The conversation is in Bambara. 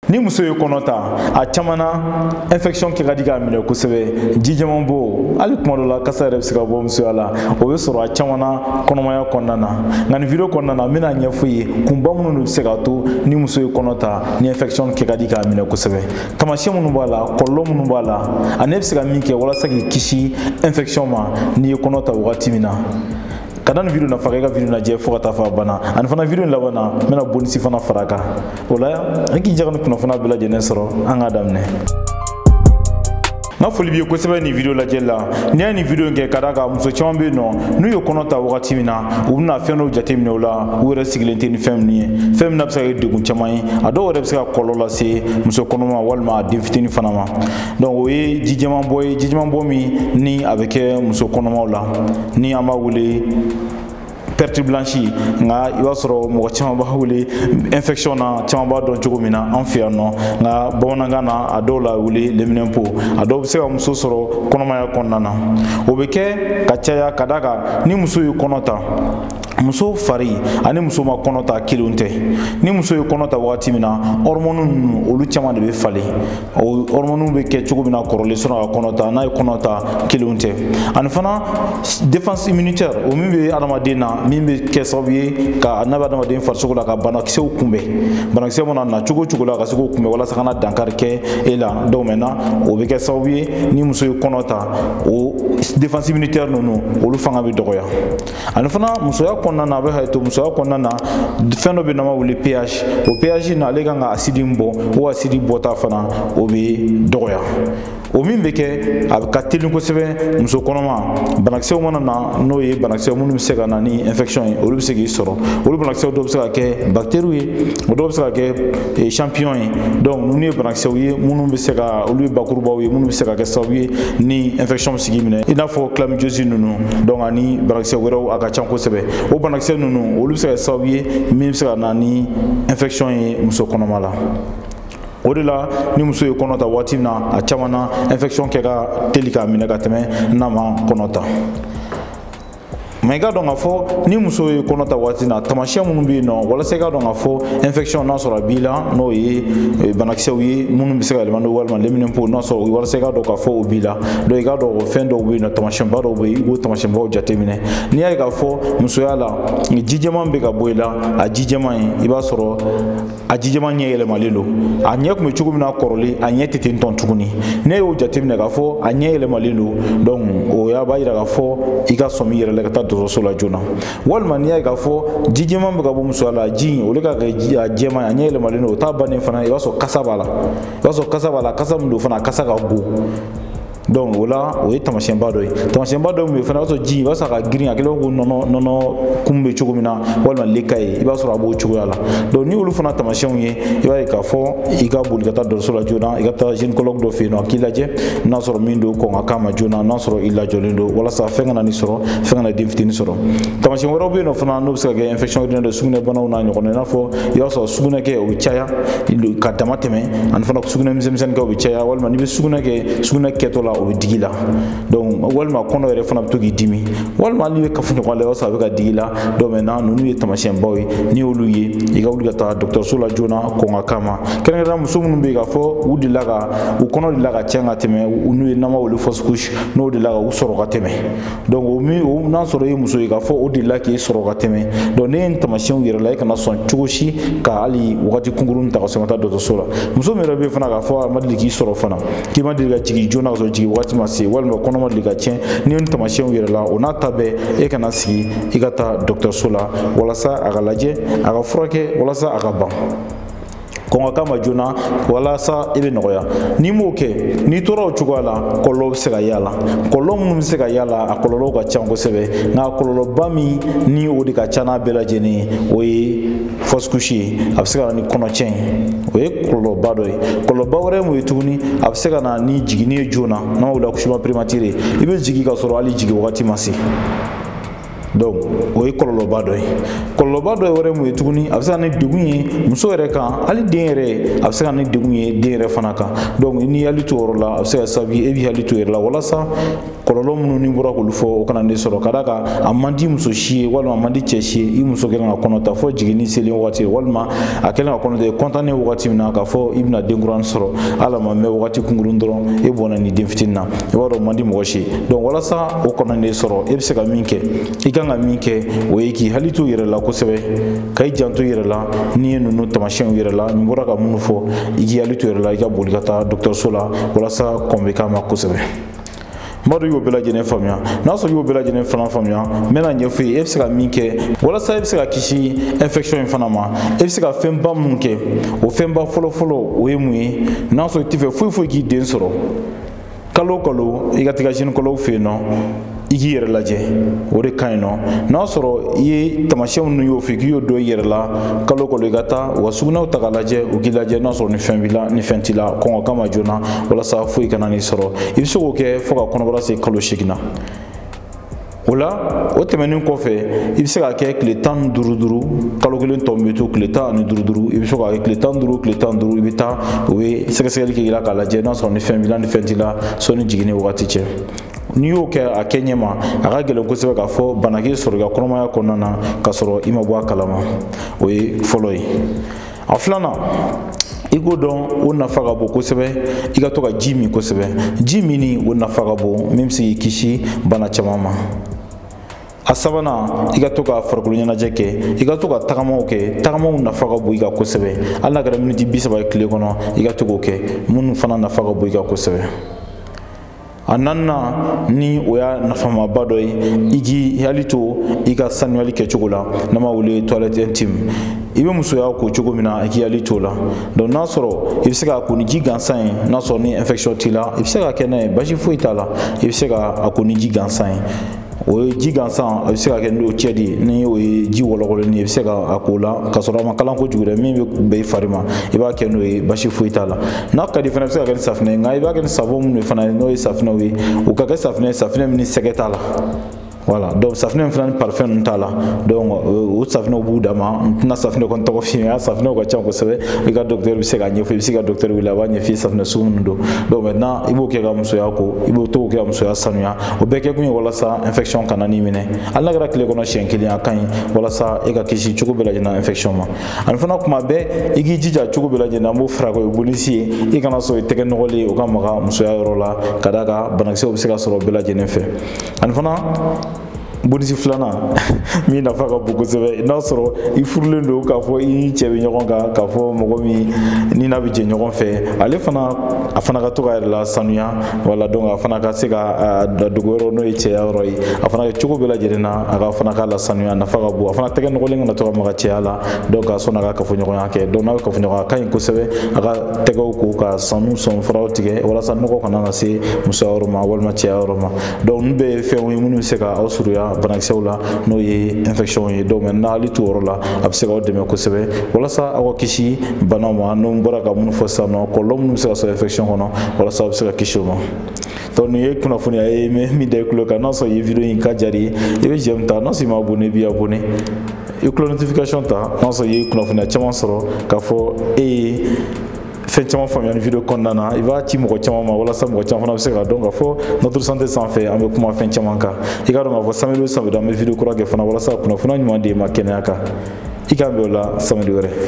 ni muso ye kɔnɔ ta a caman na infection kɛ ka di k'a minɛ kosɛbɛ ji jɛman bɔ hali kuma dɔ la kasa yɛrɛ bɛ se ka bɔ musoya la o bɛ sɔrɔ a caman na kɔnɔmaya kɔnɔna na nka nin video kɔnɔna na n bɛna ɲɛfɔ ye kunba minnu de bɛ se k'a to ni muso ye kɔnɔ ta ni infection kɛ ka di k'a minɛ kosɛbɛ taamasiyɛn minnu b'a la kɔlɔlɔ minnu b'a la ani e bɛ se ka min kɛ walasa k'i kisi infection ma n'i ye kɔnɔ ta wagati min na ka da nin video nafa kan i ka video lajɛ fo ka taa fo a banna ani fana video laban na n bɛna bonisi fana fara a kan o la an k'i jaga ni kunnafoniya bɛɛ lajɛlen sɔrɔ an k'a daminɛ n ka foli b'i ye kosɛbɛ nin video lajɛli la n'i y'a nin video in kɛ ka d'a kan muso caman bɛ yen nɔ n'u ye kɔnɔ ta wagati min na u bɛna fɛn dɔw jateminɛ o la u yɛrɛ sigilen tɛ ni fɛn minnu ye fɛn min n'a bɛ se ka kɛ degun caman ye a dɔw yɛrɛ bɛ se ka kɔlɔlɔ lase muso kɔnɔma ma walima a den fitinin fana ma donc o ye ji jɛman bɔ ye ji jɛman bɔ min ni a bɛ kɛ muso kɔnɔmaw la ni an b'a wele perte blanche nka i b'a sɔrɔ mɔgɔ caman b'a wele infection n'a caman b'a dɔn cogo min na an fɛ yan nɔ nka bamanankan na a dɔw la wele leminɛnpo a dɔw bɛ se ka muso sɔrɔ kɔnɔmaya kɔnɔna na o bɛ kɛ ka caya ka d'a kan ni muso ye kɔnɔ ta muso fari ani muso ma kɔnɔ ta kelenw tɛ ni muso ye kɔnɔ ta wagati min na hormone ninnu olu caman de bɛ falen o hormone bɛ kɛ cogo min na kɔrɔlen sani a ka kɔnɔ ta n'a ye kɔnɔ ta kelenw tɛ ani fana défense immunitaire o min bɛ adamaden na min bɛ kɛ sababu ye ka n'a bɛ adamaden farisogo la ka banakisɛw kunbɛn banakisɛ mana na cogo o cogo la ka se k'o kunbɛn walasa kana dankari kɛ e la donc maintenant o bɛ kɛ sababu ye ni muso ye kɔnɔ ta o défense immunitaire ninnu olu fanga bɛ dɔgɔya ani fana musoya kɔnɔna na a bɛ hakɛ to musoya kɔnɔna na fɛn dɔ bɛ n'an b'a wele ph o ph na ale kan ka asidi min bɔ o asidi bɔta fana o bɛ dɔgɔya o min bɛ kɛ a ka teli kosɛbɛ muso kɔnɔma banakisɛw mana na n'o ye banakisɛ minnu bɛ se ka na ni infection ye olu bɛ se k'i sɔrɔ olu banakisɛw dɔw bɛ se ka kɛ bactéries ye o dɔw bɛ se ka kɛ champignon ye donc ninnu ye banakisɛw ye minnu bɛ se ka olu ye bakurubaw ye minnu bɛ se ka kɛ sababu ye ni infection se k'i minɛ i n'a fɔ chlamydiose ninnu donc ani banakisɛ wɛrɛw a ka ca kosɛbɛ o banakisɛ ninnu olu bɛ se ka kɛ sababu ye min bɛ se ka na ni infection ye muso kɔnɔma la o de la ni muso ye kɔnɔ ta waati min na a caman na infection kɛ ka teli k'a minɛ ka tɛmɛ n'a ma kɔnɔ ta mais i k'a dɔn k'a fɔ ni muso ye kɔnɔ ta waati na taamasiyɛn minnu bɛ yen nɔ walasa i k'a dɔn k'a fɔ infection n'a sɔrɔ a b'i la n'o ye banakisɛw ye minnu bɛ se ka yɛlɛma n'o walima leminɛnpo n'a sɔrɔ walasa i k'a dɔn k'a fɔ o b'i la donc i k'a dɔn o fɛn dɔw bɛ yen nɔ taamasiyɛnba dɔw bɛ yen i b'o taamasiyɛnbaw jateminɛ n'i y'a ye k'a fɔ musoya la ji jɛman bɛ ka bɔ i la a ji jɛman in i b'a sɔrɔ a ji jɛman ɲɛ yɛlɛmalen don a ɲɛ tun bɛ cogo min na kɔrɔlen a ɲɛ tɛ ten tɔn tuguni n'i y'o jateminɛ k'a fɔ a ɲɛ yɛlɛmalen don donc o y'a b'a yira k'a fɔ i ka sɔmi i yɛrɛ la ka taa dɔgɔtɔrɔso la joona walima n'i y'a ye k'a fɔ ji jɛman bɛ ka bɔ musoya la ji in o de ka kɛ ji a jɛman a ɲɛ yɛlɛmalen don o t'a bannen fana i b'a sɔrɔ kasa b'a la i b'a sɔrɔ kasa b'a la kasa min don fana a kasa ka bon donc o la o ye tamasiyɛnba dɔ ye tamasiyɛnba dɔ min bɛ fana i b'a sɔrɔ ji i b'a sɔrɔ a ka girin a kɛlen bɛ ko nɔnɔ nɔnɔ kumu bɛ cogo min na walima lait caillé i b'a sɔrɔ a b'o cogoya la donc n'i y'olu fana tamasiyɛnw ye i b'a ye k'a fɔ i ka boli ka taa dɔgɔtɔrɔso la joona i ka taa gynécologue dɔ fɛ yen nɔ a k'i lajɛ n'a sɔrɔ min don kɔn ka k'a ma joona n'a sɔrɔ i lajɔlen don walasa fɛn kana n'i sɔrɔ fɛn kana den fitinin sɔrɔ tamasiyɛn wɛrɛw bɛ yen nɔ fana n'o bɛ se ka kɛ infection urinaire ye sugunɛbanaw n'a ɲɔgɔnna i n'a fɔ i b'a sɔrɔ sugunɛ kɛ o bɛ caya ka damatɛmɛ ani fana sugunɛ misɛnmisɛnni kɛ o bɛ caya walima n'i bɛ sugunɛ kɛ sugunɛ kɛtɔ la o bɛ digi i la donc walima kɔnɔ yɛrɛ fana bɛ to k'i dimi walima n'i bɛ kafoɲɔgɔnya la i b'a sɔrɔ a bɛ ka digi i la donc maintenant ninnu ye tamasiyɛnbaw ye n'i y'olu ye i ka wuli ka taa dɔgɔtɔrɔso la joona kɔn ka k'a ma kɛrɛnkɛrɛnnenya muso minnu bɛ yen k'a fɔ u delila ka u kɔnɔ delila ka tiɲɛ ka tɛmɛ n'o ye n'an b'a wele fausse couche n'o delila ka u sɔrɔ ka tɛmɛ donc o n'a sɔrɔ i ye muso ye k'a fɔ o delila k'i sɔrɔ ka tɛmɛ donc n'i ye nin tamasiyɛnw yɛrɛ la i kana sɔn cogo si ka hali wagati kunkurunnin ta ka sɔrɔ ka taa dɔgɔtɔrɔso la muso min yɛrɛ bɛ fana k'a fɔ a ma deli k'i sɔrɔ fana k'i ma deli ka jigin joona ka sɔrɔ jigin wagati ma se walima kɔnɔ ma deli ka tiɲɛ n'i ye nin tamasiyɛnw yɛrɛ la o n'a ta bɛɛ e kana sigi i ka taa dɔgɔtɔrɔso la walasa a ka lajɛ a ka furakɛ walasa a ka ban kɔn ka k'a ma joona walasa i bɛ nɔgɔya n'i m'o kɛ n'i tora o cogoya la kɔlɔlɔ bɛ se ka y'a la kɔlɔlɔ minnu bɛ se ka y'a la a kɔlɔlɔw ka ca kosɛbɛ nka kɔlɔlɔba min ni o de ka ca n'a bɛɛ lajɛlen ye o ye fausse couche ye a bɛ se ka na ni kɔnɔcɛn ye o ye kɔlɔlɔba dɔ ye kɔlɔlɔba wɛrɛ ye mun ye tuguni a bɛ se ka na ni jiginni ye joona n'an b'a wele accouchement prématuré i bɛ jigin ka sɔrɔ hali jigin wagati ma se donc o ye kɔlɔlɔba dɔ ye kɔlɔlɔba dɔ wɛrɛ mun ye tuguni a bɛ se ka na ni degun ye muso yɛrɛ kan hali den yɛrɛ a bɛ se ka na ni degun ye den yɛrɛ fana kan donc n'i y'i hakili to o yɔrɔ la a bɛ se ka kɛ sababu ye e b'i hakili to i yɛrɛ la walasa kɔlɔlɔ minnu ne bɔra k'olu fɔ o kana n'e sɔrɔ ka d'a kan a man di muso si ye walima a man di cɛ si ye i muso kɛlen ka kɔnɔ ta fɔ jiginni selen wagati walima a kɛlen ka kɔnɔ ta i kɔntannen wagati min na k'a fɔ i bɛna den kura sɔrɔ hali a ma mɛn wagati kunkurun dɔrɔn e bɔnɛna nin den fitinin na i b'a dɔn o man di mɔgɔ si ye donc walasa o kana n'e sɔrɔ e bɛ se ka min kɛ i kan ka min kɛ o ye k'i hakili to i yɛrɛ la kosɛbɛ ka i janto i yɛrɛ la n'i ye ninnu tamasiyɛnw yɛrɛ la ne bɔra ka minnu fɔ i k'i hakili to i yɛrɛ la i ka boli ka taa dɔgɔtɔrɔso la walasa kɔn bɛ k'a ma kosɛbɛ madu y'o bɛɛ lajɛlen faamuya n'a sɔrɔ i y'o bɛɛ lajɛlen fana faamuya n bɛn'a ɲɛfɔ i ye e bɛ se ka min kɛ walasa e bɛ se ka kisi infection in fana ma e bɛ se ka fɛnba minnu kɛ o fɛnba fɔlɔfɔlɔ o ye mun ye n'a sɔrɔ i tɛ fɛ foyi foyi k'i den sɔrɔ kalo kalo i ka taga gynécologue fɛ yen nɔ i k'i yɛrɛ lajɛ o de ka ɲi nɔ n'a sɔrɔ i ye tamasiyɛn minnu y'o fɛ k'i y'o dɔn i yɛrɛ la kalo kalo i ka taa u ka sugunɛw ta k'a lajɛ u k'i lajɛ n'a sɔrɔ ni fɛn b'i la ni fɛn t'i la kɔngɔ kama joona walasa foyi kana n'i sɔrɔ i bɛ se k'o kɛ fo ka kɔnɔbara se kalo seegin na o la o tɛmɛnen kɔfɛ i bɛ se k'a kɛ tile tan ni duuru duuru kalo kelen tɔ min bɛ to tile tan ani duuru duuru i bɛ se k'a kɛ tile tan ni duuru tile tan ni duuru i bɛ taa u bɛ sɛgɛsɛgɛli kɛ i la k'a lajɛ n'a sɔrɔ ni fɛn b'i la ni fɛn t'i la sɔnni jiginni wagati cɛ n'i y'o kɛ a kɛ ɲɛma a ka gɛlɛn kosɛbɛ k'a fɔ bana k'i sɔrɔ i ka kɔnɔmaya kɔnɔna na k'a sɔrɔ i ma bɔ a kalama o ye fɔlɔ ye a filanan i k'o dɔn o nafa ka bon kosɛbɛ i ka to ka ji min kosɛbɛ ji minni o nafa ka bon min bɛ se k'i kisi bana caman ma a sabanan i ka to ka farikolo ɲɛnajɛ kɛ i ka to ka tagamaw kɛ tagamaw nafa ka bon i kan kosɛbɛ hali n'a kɛra miniti bi saba ye tile kɔnɔ i ka to k'o kɛ minnu fana nafa ka bon i kan kosɛbɛ a naaninan ni o y'a nafamaba dɔ ye i k'i hakili to i ka sanuyali kɛcogo la n'an b'a wele toilette intime i bɛ musoya ko cogo min na i k'i hakili t'o la donc n'a sɔrɔ i bɛ se k'a ko ni ji gansan ye n'a sɔrɔ ni infection t'i la i bɛ se k'a kɛ n'a ye basi foyi t'a la i bɛ se k'a ko ni ji gansan ye o ye ji gansan a bɛ se ka kɛ n'eau tiède ye ni o ye ji wɔlɔkɔlen ye i bɛ se k'a k'o la ka sɔrɔ a ma kalan kojugu dɛ min bɛ bɛn i fari ma i b'a kɛ n'o ye basi foyi t'a la n'a ka di fana i bɛ se ka kɛ ni safinɛ ye nka i b'a kɛ ni savon minnu ye fana n'o ye safinɛw ye o ka kɛ safinɛ ye safinɛ min ni sɛgɛ t'a la voilà donc safinɛ min fana ni parfum ninnu t'a la donc o safinɛw b'u dama n tɛna safinɛ kɔni tɔgɔ f'i ye a safinɛw ka ca kosɛbɛ i ka docteur bɛ se k'a ɲɛfɔ i bɛ se ka docteur wele a b'a ɲɛf'i ye safinɛ sugu min don donc maintenant i b'o kɛ ka musoya ko i b'o to kɛ ka musoya sanuya o bɛɛ kɛkun ye walasa infection kana n'i minɛ hali n'a kɛra tile kɔnɔ siɲɛ kelen a ka ɲi walasa e ka kisi cogo bɛɛ lajɛlen na infection ma ani fana tuma bɛɛ i k'i jija cogo bɛɛ lajɛlen na an b'o fara o ye bonus ye i kana sɔn i tɛgɛ nɔgɔlen o ka maga musoya yɔrɔ la ka d'a kan banakisɛw bɛ se ka sɔrɔ bɛɛ lajɛlen fɛ ani fana bonus filanan min nafa ka bon kosɛbɛ n'a sɔrɔ i furulen don k'a fɔ i ni cɛ bɛ ɲɔgɔn kan k'a fɔ mɔgɔ min ni n'a bɛ jɛ ɲɔgɔn fɛ ale fana a fana ka to k'a yɛrɛ lasanuya voilà donc a fana ka se ka dogo yɔrɔ n'o ye cɛya yɔrɔ ye a fana kɛ cogo bɛɛ lajɛlen na a ka fana k'a lasanuya nafa ka bon a fana tɛgɛ nɔgɔlen kana to ka maga cɛya la donc a sɔnni a ka kafoɲɔgɔnya kɛ donc n'a bɛ kafoɲɔgɔnya a ka ɲi kosɛbɛ a ka tɛgɛw ko ka sanu sɔninfaraw tigɛ walasa nɔgɔ kana na se musoya yɔrɔ ma walima cɛya yɔrɔ ma donc ninnu bɛɛ ye fɛnw ye minnu bɛ se ka aw surunya banakisɛw la n'o ye infection ye donc maintenant hakili t'o yɔrɔ la a bɛ se k'aw dɛmɛ kosɛbɛ walasa aw ka kisi banaw ma ne bɔra ka minnu fɔ sisan nɔ kɔlɔlɔ minnu bɛ se ka sɔrɔ infection kɔnɔ walasa aw bɛ se ka kisi o ma donc nin ye kunnafoniya ye min da i tulo kan n'a sɔrɔ i ye video in ka jari ye i bɛ j'aime ta n'a sɔrɔ i ma abonné i b'i abonné i cloche notification ta n'a sɔrɔ i ye kunnafoniya caman sɔrɔ k'a fɔ e ye fɛn caman faamuya ni video kɔnɔna na i b'a ci mɔgɔ caman ma walasa mɔgɔ caman fana bɛ se k'a dɔn k'a fɔ notre santé sanfɛ an bɛ kuma fɛn caman kan i k'a dɔn k'a fɔ samedi o samedi an bɛ video kura kɛ fana walasa ka kunnafoniya ɲuman di i ma kɛnɛya kan i k'an bɛn o la samedi wɛrɛ